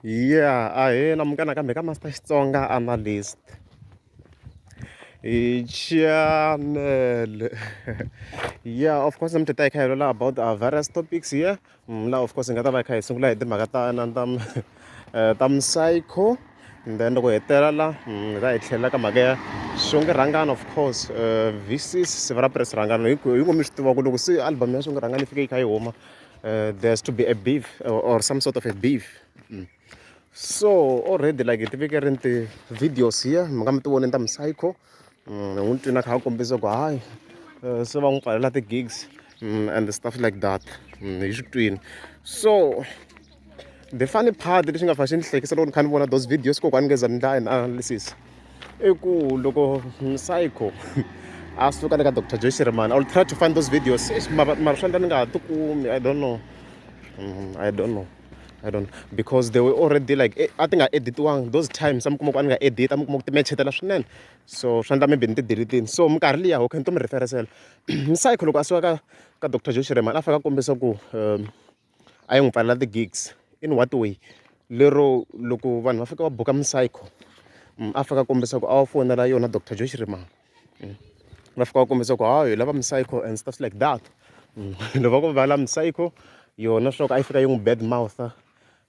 yeah a hi na munghana kambe ka master xitsonga analyst hi chanele yeah of course namhlanje ta hi kha hi lola about our various topics here mm, la of course hi nga ta va hi kha hi sungula hi timhaka ta na ta eh, ta psycho and then loko hi hetela la hi ta hi tlhelela ka mhaka ya swonge rhangana of course uh, vcs siva ra press rhangana hi ngo mi swi tiva ku loko se album ya swonge rhangana yi fike yi kha yi huma uh, there has to be a beef or, or some sort of a beef mm. so already like hi tiveke ri nti videos here mi nga mi ti voneni ta mi psycho ni n'wi twini a kha a kombisa ku hayi eh, se va n'wi pfalela ti-gigs mm, and stuff like that mm, hi swi twini so the funny part lexi nga fa xi ni hlekisa loko ni kha ni vona those videos kokwani ngeza ni ndla analysis i ku loko psycho a suka le ka dr joy shirimani i will try to find those videos mara swa ndla ni nga ha tikumi i don't know mm, i don't know I don't because they were already like eh, a ti nga editiwanga those times a mi kuma ku a ni nga edita mi kuma ku timechetela swinene so swi endla maybe ni ti-delete-ini so minkarhi liya okay ni to mi referesela msayikho loko a suka ka ka dr joe shiremani a fika a kombisa ku um a yi n'wi pfalela ti-gigs in what way lero loko vanhu va fika va buka msayikho mm, a fika a kombisa ku a wa fonela yona dr joe shiremani va fika va kombisa ku ha hi lava mi-psycho and stuff like that loko va ku va la mi-psycho yona swa ku a yi fika yi n'wi bad mouth uh,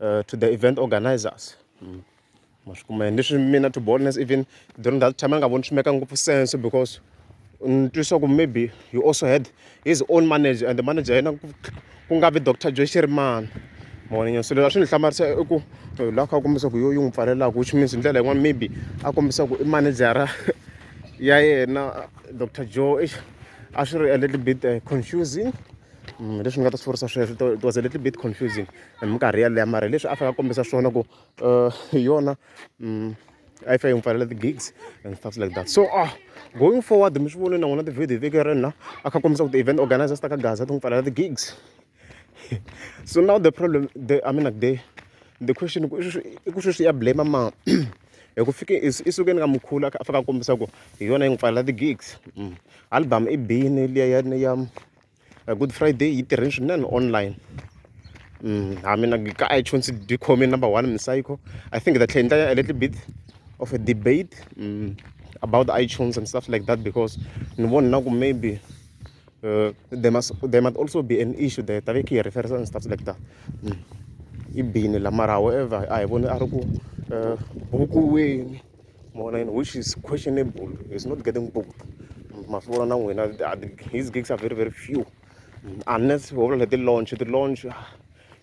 eh, to the event organizers mm. ma swi kuma yini leswi mina to boldness even during that time a nga voni swi meka ngopfu sense because ni twisa ku maybe you also had his own manager and the manager ya yena ku nga vi doctor joy xerimana mavonenyo so leswi a swi ni hlamarisa i ku eh, la kha kombisa ku yo yi n'wi pfalelaka which means hi ndlela yin'wana maybe a kombisa ku i manejara ya yena doctor joe eish a swi ri a little bit eh, confusing mm, leswi ni nga ta swi vurisa sweswo it was a little bit confusing hi minkarhi yaleyo mara leswi a fanele a kombisa swona ku uh, hi yona um a yi fa yi n'wi pfalela ti-gigs and stuff like that so ah going forward mi swi vone na n'wina ti-video veke ri na a kha kombisa ku ti-event organizers ta ka gaza ti n'wi pfalela ti-gigs so now the problem the i mean like the the question i ku sweswi ya blame ma hi ku fike i sukeni ka mukhulu a fika a kombisa ku hi yona yi n'wi pfalela ti-gigs mm. album i bini liya ya ya Good Friday yi tirhini swinene online ha mina ka iTunes dyi khome number one misayikho I think ta tlhela endla a little bit of a debate mm, about iTunes and stuff like that because ni vona na ku maybe uh, there must there might also be an issue there ta ve ki reference and stuff like that mm. i bini la mara however a hi voni a ri ku uh, buku weni mavona ya n'wina which is questionable is not getting booked ma swi vona na n'wina his gigs are very very few unless ho vula leti launch ti launch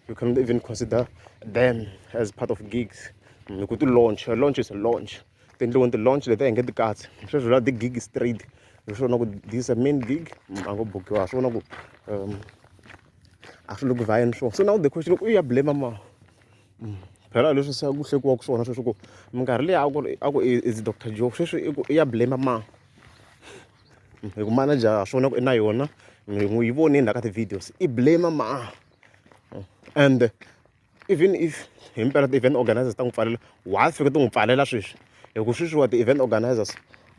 you can even consider them as part of gigs hi ku ti launch a launch is a launch ti endliweni ti launch leti a hi nge ti katsi sweswi la ti gig straight hi swona ku this a main gig a ngo bukiwa swi vona ku um a swi le ku vhayeni swona so now the question u ya blame ma phela leswi se ku hlekiwaka swona sweswi ku minkarhi leyi a ku ri a ku is doctor joe sweswi i ku i ya blame ma hi ku manager ha swona ku i na yona mi n'wi yi vonile na ka ti-videos i blame ma and even if hi mpela ti-event organizers ta n'wi pfalela wa fika ti n'wi pfalela sweswi hi ku sweswiwa ti-event organizers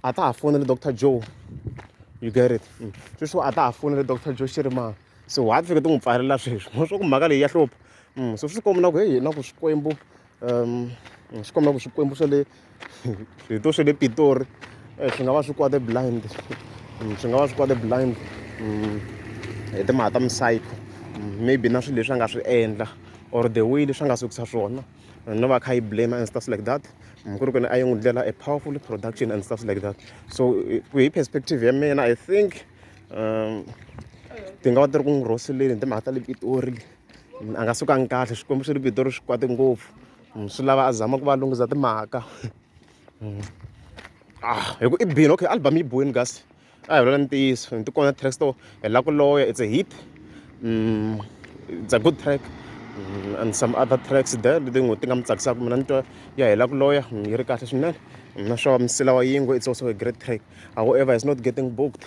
a ta ha fonele doctor joe you get it mm. sweswiwa a ta ha fonele doctor joe xi ri mani so wa fika ti n'wi pfalela sweswi mo swa ku mhaka leyi ya hlupha mm, so swi komba na ku heyi na ku swikwembu um swi komba ku swikwembu swa le swito swa le pitori eh, swi nga va swi kwate blind mm, swi nga va swi kwate blind mm, hi timhaka ta misayiko maybe na swilo leswi a nga swi endla or the way leswi a nga sukisa swona no va kha yi blame and stuff like that ku ri ku ni a yi n'wi dlela a powerful production and stuff like that so hi perspective ya mina i think um ti nga va ti ri ku n'wi rhoseleni hi timhaka ta le pitori a nga sukanga kahle swikwembu swi ri pitori swi kwate ngopfu mm, swi lava a zama ku va lunghiza timhaka mm. ah hi ku i bini okay album yi boyini kasi a hi vulela ntiyiso ni tikona track store hi la ku loya it's a hit mm, it's a good track Mm, and some other tracks there leti n'wi ti nga mi tsakisaka mina ni twa ya hela ku loya yi ri kahle swinene na sure msila wa yingwe it's also a great track however is not getting booked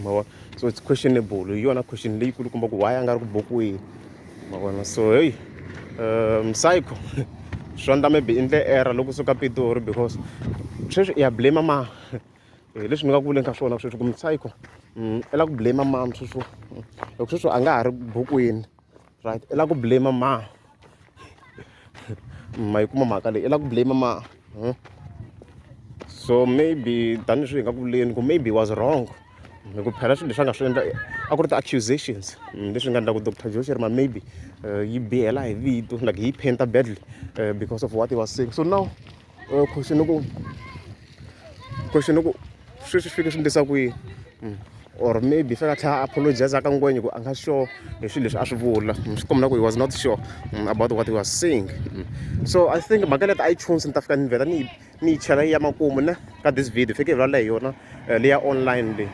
ma vona so it's questionable hi yona question leyikulu kumba ku why a nga ri ku bokiweni ma vona so heyi um psycho swa ndla maybe i ndle error loko suka pitori because sweswi i ya blame ma eh, leswi ni nga ku vuleni ka swona sweswi ku mi psycho mm, i la ku blame mam sweswo loko sweswo a nga ha ri bokiweni right i lava ku blame mani ma yi kuma mhaka leyi i lava ku blame mani hmm? so maybe tanihi swi hi nga ku vuleni ku maybe was wrong hi ku phela swilo leswi a nga swi endla a ku ri ti-accusations hmm, leswi nga endlaku doctor josh ri ma maybe eh, yi bihela hi vito like yi painta badly eh, because of what he was saying so now or question ni ku question ni ku sweswi swi fike swi endlisa kwihi hmm. or maybe fika tlhela a apologize ka ngwenya ku a nga sure hi swilo leswi a swi vula hmm, swi kombela ku he was not sure hmm, about what he was saying so i think mhaka leti a yi chunsi ni ta fika ni vhela ni ni yi chela ya makumu ne ka this video fike hi vulavula hi yona eh, leya online leyi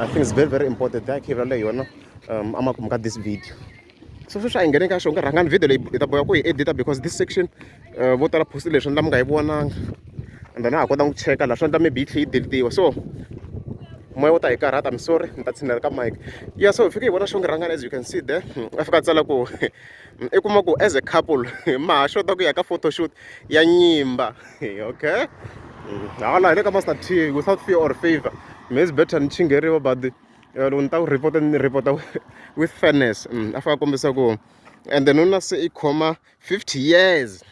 i think it's very very important that hi vulavula hi yona um, amakumu ka this video so sweswi a hi nghene ka xo nga rhangani video leyi hi ta boya ku hi edita because this section eh, vo tala post leswi endla mi nga yi vonanga and then a ha kota ku cheka laha swi endla maybe yi tlhe yi deletiwa so moya wo ta hi karhata mi sorry ni ta tshinela ka mike ya so hi fike hi vona xo nga rhangani as you can see there hmm, a fika a tsala ku i kuma ku as a couple ma ha xota ku ya ka photoshoot ya nyimba okay hmm, hala hi le ka master t without fear or favor maybe better ni chingeriwa but eh, loko ni ta ku report ni report with fairness mm, a faka kombisa ku and then una se i khoma 50 years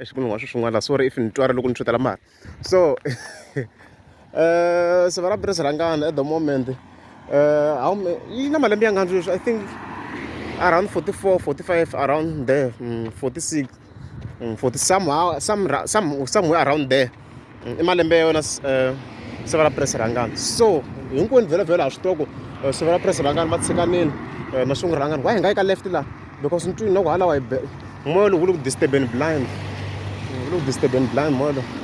exikunhu wa swi swin'wana sorry if ni twara loko ni tshutela mara so uh, siva ra biri sirhangana at the moment uh, yi na malembe ya ngani sweswi i think around 44 45 around there mm, 46 mm, for somehow some some somewhere around there mm, i malembe ya yona eh, severa press rangani so hinkwenu vhelovhelo ha swi toko eh, severa press rangani ma tshikanini eh, ma sungula rangani why hi nga yi ka left laha because ni twini loko halawa hi moya lowu wu le ku disturben blind wu le ku disturben blind moya lowu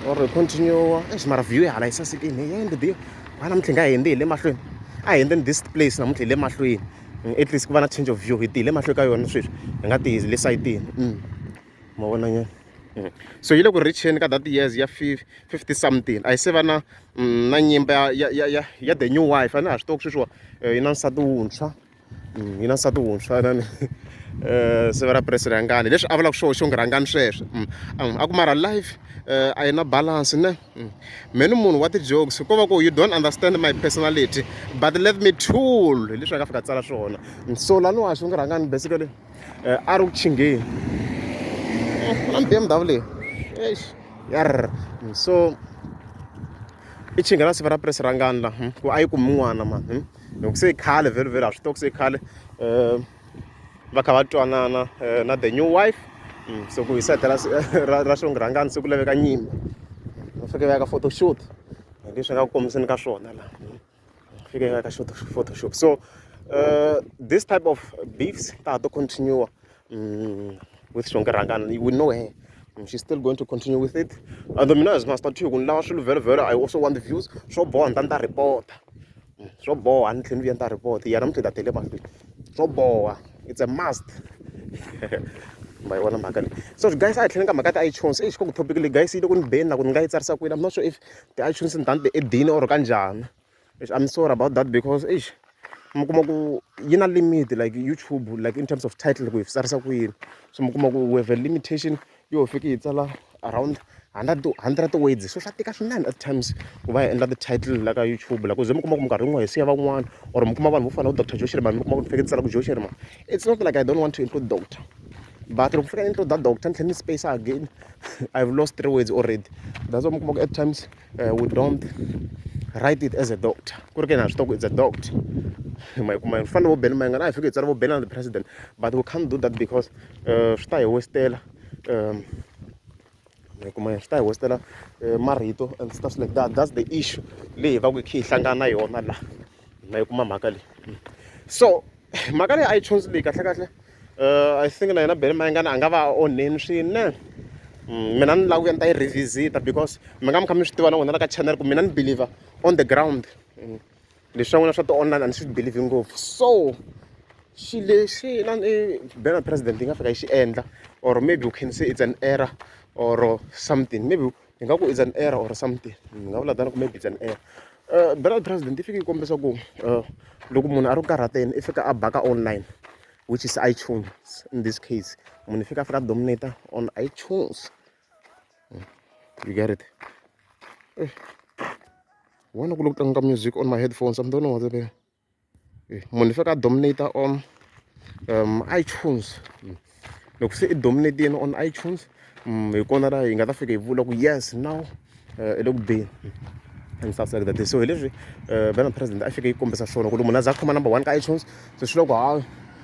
or hi continue exi eh, mara view yi hala yi sasekini hi yende biyo wana mintlhi nga hi hende hi le mahlweni a hi hende ni this place namuntlha hi le mahlweni at least ku va na change of view hi tihile mahlo ka yona sweswi hi nga tihi le sayitini mm. ma vona nyana mm. so yi le ku richeni ka that years ya fifty something a yi se va na mm, na nyimba ya ya ya ya the new wife a ni ha swi tivaku sweswiwa eh, yi na nsati wuntshwa yi na nsati wuntshwa nani eh, siva ra puresi rhangani leswi a vulaka swona xo ngi rhangani sweswo a ku mara life eh, a yi na balance ne Mm. mheni munhu wa ti-jokes ko va ku you don't understand my personality but let me tool hi leswi a nga fika tsala swona so laniwa swi ngi rhangani basically eh, a ri ku chingheni mm, na bmw leyi eish yar mm, so i chinga na siva ra press rangani la ku a yi kumi n'wana mani loko se i khale vhele vhele a swi tiva ku se i khale um va kha va twanana eh, na the new wife mm, so ku hi sete ra xirhangani se ku laveka nyimba va fike va ya ka photoshoot hi leswi nga ku kombiseni ka swona laha mm. fike va ya ka photoshoot so uh, this type of beefs ta ha to continue mm, with xonge rhangani we know her she's still going to continue with it and mina as master two ku ni lava swilo vhelo vhelo i also want the views swo boha ni ta ni ta report swo boha a ni tlhela ni endla report ya namuntlha ta tele mahlweni swo boha it's a must ma yi vona mhaka leyi so guys a hi tlhela ka mhaka ti-iTunes exi ka ku topic leyi guys yi le ku ni beni na ku ni nga yi tsarisa kwini I'm not sure if ti-iTunes ni tani ti-edini or ka njhani exi I'm sorry about that because exi mi kuma ku yi na limit like YouTube like in terms of title ku yi tsarisa kwini so mi kuma ku we have a limitation yo fiki yi tsala around hundred hundred words so swa tika swinene at times ku va hi endla ti-title la ka youtube la ku ze mi kuma ku minkarhi yin'wana hi siya van'wana or mi kuma vanhu vo fana na doctor josheri vanhu mi kuma ku ni fike ni tsala ku josheri ma it's not like i don't want to include doctor but loko fika intro da doctor ni tlhela ni space again i've lost three words already that's why mi kuma ku at times eh, we don't write it as a doctor ku ri ke na swi tiva ku it's a doctor ma yi kuma hi fanele vo beni ma yi nga na hi fike hi tsala vo beni the president but we can't do that because eh, swi ta hi westela um ma yi kuma swi ta hi westela eh, marito and stuff like that that's the issue leyi hi va ku hi khe hi hlangana na yona laha hi nga yi kuma mhaka leyi so mhaka leyi a yi chonsi leyi kahlekahle um i think na yena bele mayengana a nga va a onheni swinene mm, mina ni lava ku ya ni ta yi revisita because mi nga mi kha mi swi tiva na n'wina la ka channel ku mina ni believer on the ground mm. leswi swa n'wina swa ti-online a ni swi believi ngopfu so xi lexi na ni bela president yi nga fika yi xi endla or maybe u can say it's an error or something maybe hi nga ku is an error or something ni nga vula tani ku maybe is an error uh, burial president yi fike yi kombisa ku uh, loko munhu a ri ku karhateni i fika a baka online which is itunes in this case munhu i fika a fika dominata on itunes hmm. you get it eh. vona ku loko tlanga music on my headphones i'm don't know what munhu leswaku a dominator on um iTunes loko se i dominate-ini on iTunes mm, hi kona la hi nga ta fika hi vula ku yes now eh, i le ku beni and stuff like that so hi leswi eh, vena president a fike yi kombisa swona ku ri munhu a za a khoma number one ka iTunes so swi loko ha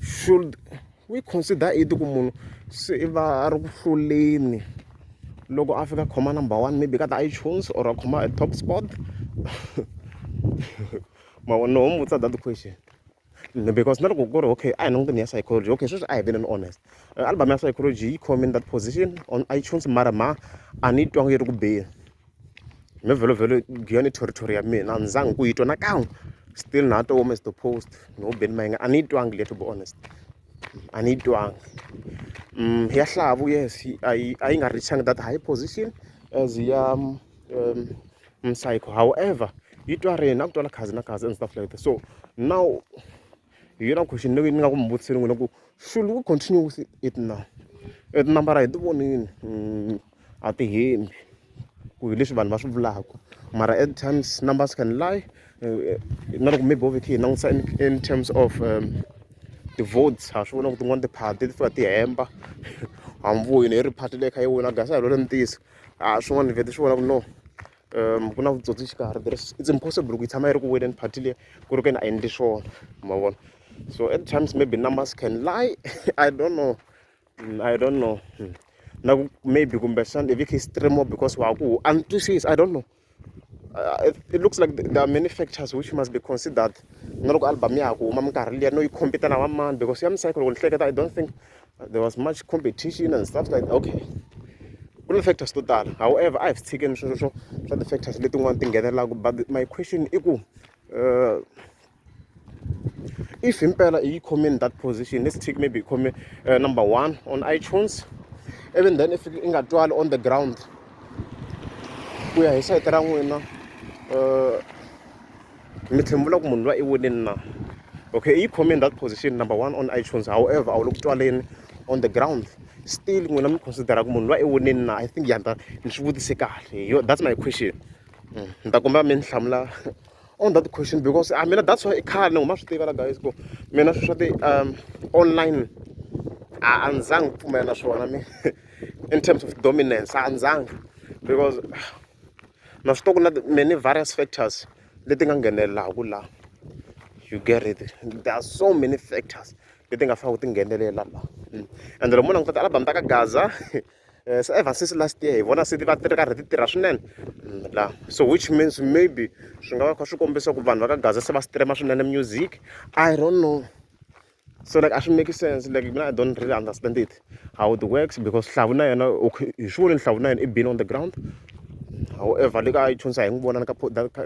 should we consider it ku munhu se i va a ri ku hluleni loko a fika khoma number one maybe ka ti-itunes or a khoma a top spot mavona ho mi vutisa that question because na loko ku ri okay a hi languteni ya psychology okay sweswi a hi veneni honest eh, album ya psychology yi khome in that position on itunes mara ma a ni yi twanga yi ri ku beni me vhelo vhelo giyon i territory ya mina a ni zangi ku yi twa nakan'we still na to home as the post no beni mayinga a ni yi twangi le to be honest a ni yi twangi um ya hlavu yes a yi a yi nga richangi that high position as ya um, msayiko however yi twa rena a ku twala khazi na khazi and stuff like that so now hi yona question leyi ni nga ku mi vutiseni n'wina ku should we continue with it now e tinambara hi ti vonini mm, a ti hembi ku hi leswi vanhu va swi vulaka mara at times numbers can lie eh, eh, na loko maybe wo vekhi hi langutisa in terms of um, ti-votes ha swi vona ku tin'wana tiphati ti fika ti hemba hamvuyi ne ri phati leyi kha yi wina gasa hi lole ni tiyisa a swin'wana ni vete swi vona ku no ku na vutsotsi xikarhi there is it's impossible ku yi tshama yi ri ku weleni party leyi ku ri ka ni a endli swona ma vona so at times maybe numbers can lie i don't know mm, i don't know mm. na ku maybe kumbexana if you can stream more because wa ku antswisisa i don't know uh, it, it looks like there are many factors which must be considered na loko album ya ha ku huma minkarhi liya no yi compete na wa mani because ya misayikolo ku ni hleketa i don't think there was much competition and stuff like that okay ku na factors to tala however a hi swi tshikeni sweswo swo swa ti-factors letin'wana ti nghenelelaka but my question i ku uh, if impela yi khome in that position let's take maybe yi khome uh, number one on itunes even then if i nga twali on the ground ku ya hi sayiti ra n'wina uh, mi tshembula ku munhu loyi i winile na okay i yi khome in that position number one on itunes however a wu le ku twaleni on the ground still n'wina mi considera ku munhu loyi i winile na i think yanda ni swi vutise kahle yo that's my question mm, ni ta kombela mi ni hlamula on that question because I ah, mean that's why i khale ni huma swi tiva la guys ku mina swi swa ti um online a a ndzi zangi pfumela na swona mi in terms of dominance a ndzi zangi because na swi tiva ku na many various factors leti nga nghenelelaka la you get it there are so many factors leti nga faneleke ti nghenelela la mm. and loko mo languta ti-album ta ka gaza eh, so ever since last year hi vona se va ti ri karhi ti tirha swinene mm, la so which means maybe swi nga va kha swi kombisa ku vanhu va ka gaza se va streama swinene music i don't know so like a swi make sense like mina i don't really understand it how it works because hlavu na yena okay hi swi voni hlavu na yena i been on the ground however le ka iTunes a hi n'wi vona ka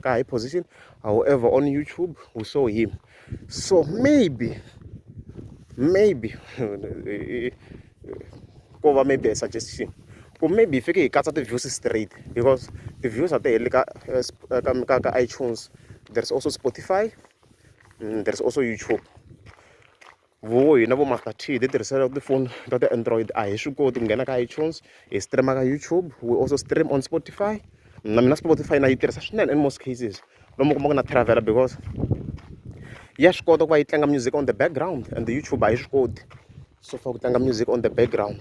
ka high position however on YouTube we saw him so maybe maybe ko va maybe a suggestion ku maybe hi fike hi katsa ti-views straight because ti-views a ti heli ka eh, ka ka ka iTunes there's also Spotify and there's also YouTube vo hina vo Master T hi ti tirhisela tifoni ta ti-android a hi swi koti ku nghena ka iTunes hi streama ka YouTube we also stream on Spotify na mina Spotify na yi tirhisa swinene in most cases lomu kuma ku na travel because ya swi kota ku va yi tlanga music on the background and the YouTube a yi swi koti so far ku tlanga music on the background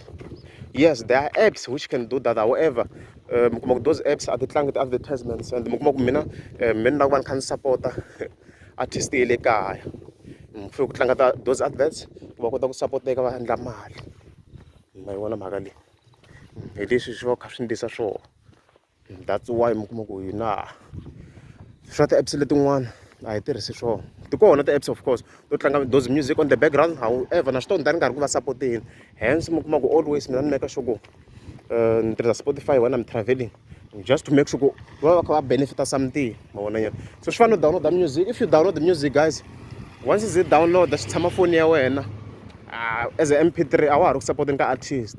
yes there are apps which can do that however eh, mi kuma ku those apps a ti tlangi ti-advertisements and mi kuma ku mina eh, mina ni lava ku va ni kha ni sapota artist ye le kaya mi fanele ku tlanga ta those adverts ku va kota ku sapoteka va endla mali ma yi vona mhaka leyi hi leswi swi va kha swi ndlisa swona that's why mi kuma ku hina swa ti-apps letin'wana a hi tirhisi swona ti kona ti-apps of course to tlanga those music on the background however na swi tonda ni karhi ku va sapoteni hence mi kuma ku always mina ni meka sure ku eh, ni tirhisa spotify wena mi traveling just to make sure ku va va kha va benefita something ma vona nyana so swi fana no download music if you download the music guys once is it download swi tshama foni ya wena ah, as a mp3 a wa ha ri ku sapoteni ka artist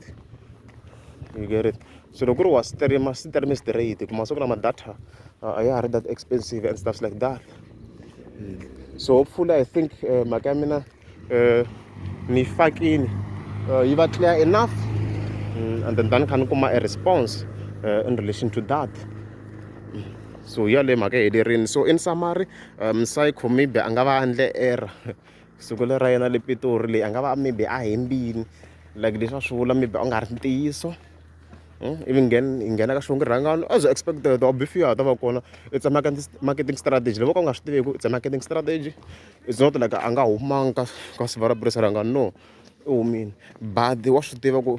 you get it So loko ku ri wa stream stream straight ku masiku lama data a ya ha ri that expensive and stuffs like that hmm. so hopefully i think eh, mhaka ya mina eh, ni fakini eh, yi va clear enough hmm, and then tani kha ni kuma a response in relation to that hmm. so yaleyo mhaka helerini so in summary um psycho maybe a nga va andle error siku leri ra yena le pitori leyi a nga va maybe a hembini like leswi a swi vula maybe a nga ri ntiyiso hmm? ivi nghena hi nghena ka xivongo rhangano as expected wa bifiwa ta va kona it's a marketing strategy loko ka u nga swi tiveki it's a marketing strategy it's not like a nga humanga ka ka siva ra purisa rhangano no u humile but wa swi tiva ku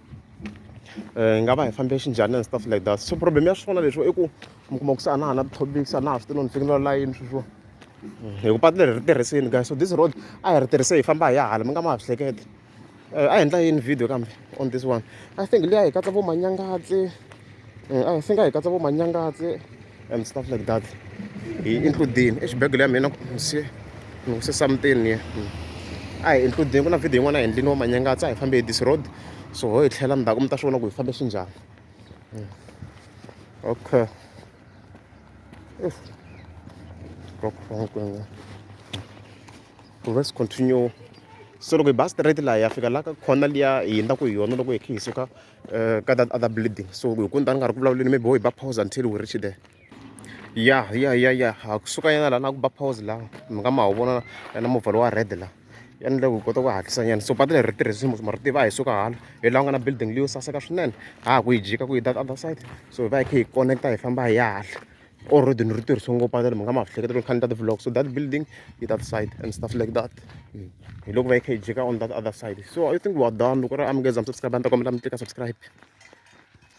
um hi nga va hi fambe xinjhani and stuff like that so problem ya swona leswo i ku mi kuma ku se a na ha na ti-topics a na ha swi tino ni fikela layini sweswo hi ku patu leri ri tirhisini guys so this road a hi ri tirhise hi famba hi ya hala mi nga ma ha swi hlekete um a hi endla yini video kambe on this one i think liya hi katsa vo manyangatsi eh, a hi singa hi katsa vo manyangatse and stuff like that hi includini exibegele ya mina se ni huse something ye hmm. a hi includini ku na video yin'wana a hi endlini wa manyangatse a hi fambe hi this road so ho hi tlhela ndzhaku mi ta swi vona ku hi fambe xinjhani hmm. okay let's continue so loko hi ba straight laha ya fika la ka khona liya hi yendzaku hi yona loko hi khe hi suka uh, ka that other building so hi ku ni ta ni nga ri ku vulavuleni maybe wo hi ba pause until we reach there ya ya ya ya ha kusuka yena laha na ku ba pause laha mi nga ma wu vona na movha lowa red laha ya ni loko hi kota ku hatlisa nyana so patu leri ri tirhisi ma ri tiva hi suka hala hi laha ku nga na building leyo saseka swinene ha ha ku yi jika ku yi that other side so hi va hi kha hi connecta hi famba hi ya hala or road ni ri tirhisiwe ngopfu a ni mhaka ma hleketa loko kha ni ta ti-vlog so that building yi that side and stuff like that mm. hi loko va yi kha yi jika on that other side so i think wa done loko ri amukeza mi subscribe a ni ta kombela mi tlika subscribe